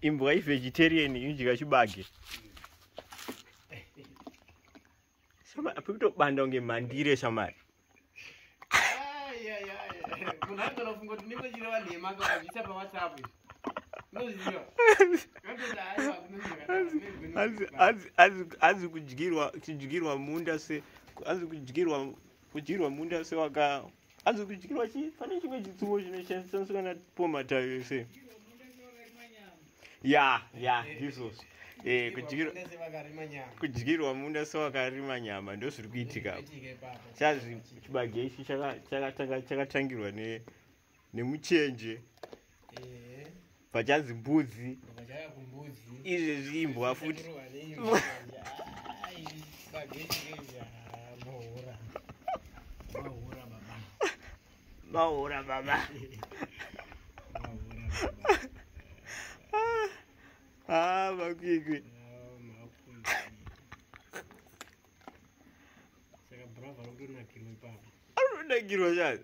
imbwa ivegetarian inodya chibage pekutobanda kunge mandire shamari munhu aigona kufunga kuti ndinge chireva nhema akavazvisa pawhatsapp azi kudyirwa kudyirwa munda se azi kudyirwa kudyirwa munda sewaka hanzi kudyirwa chi pane chimwe chitsumo chinoshandiswa kana pomatayo yese ya ya ndizvozvo eh, kudyirwa munda sewakarima nyama ndo zviri kuitika chazvi chibage ichi chakatangirwa nemuchenje vachanzi mbudzi izvezvi imbwa futi maura baba ah, makwikwi anonakirwa chani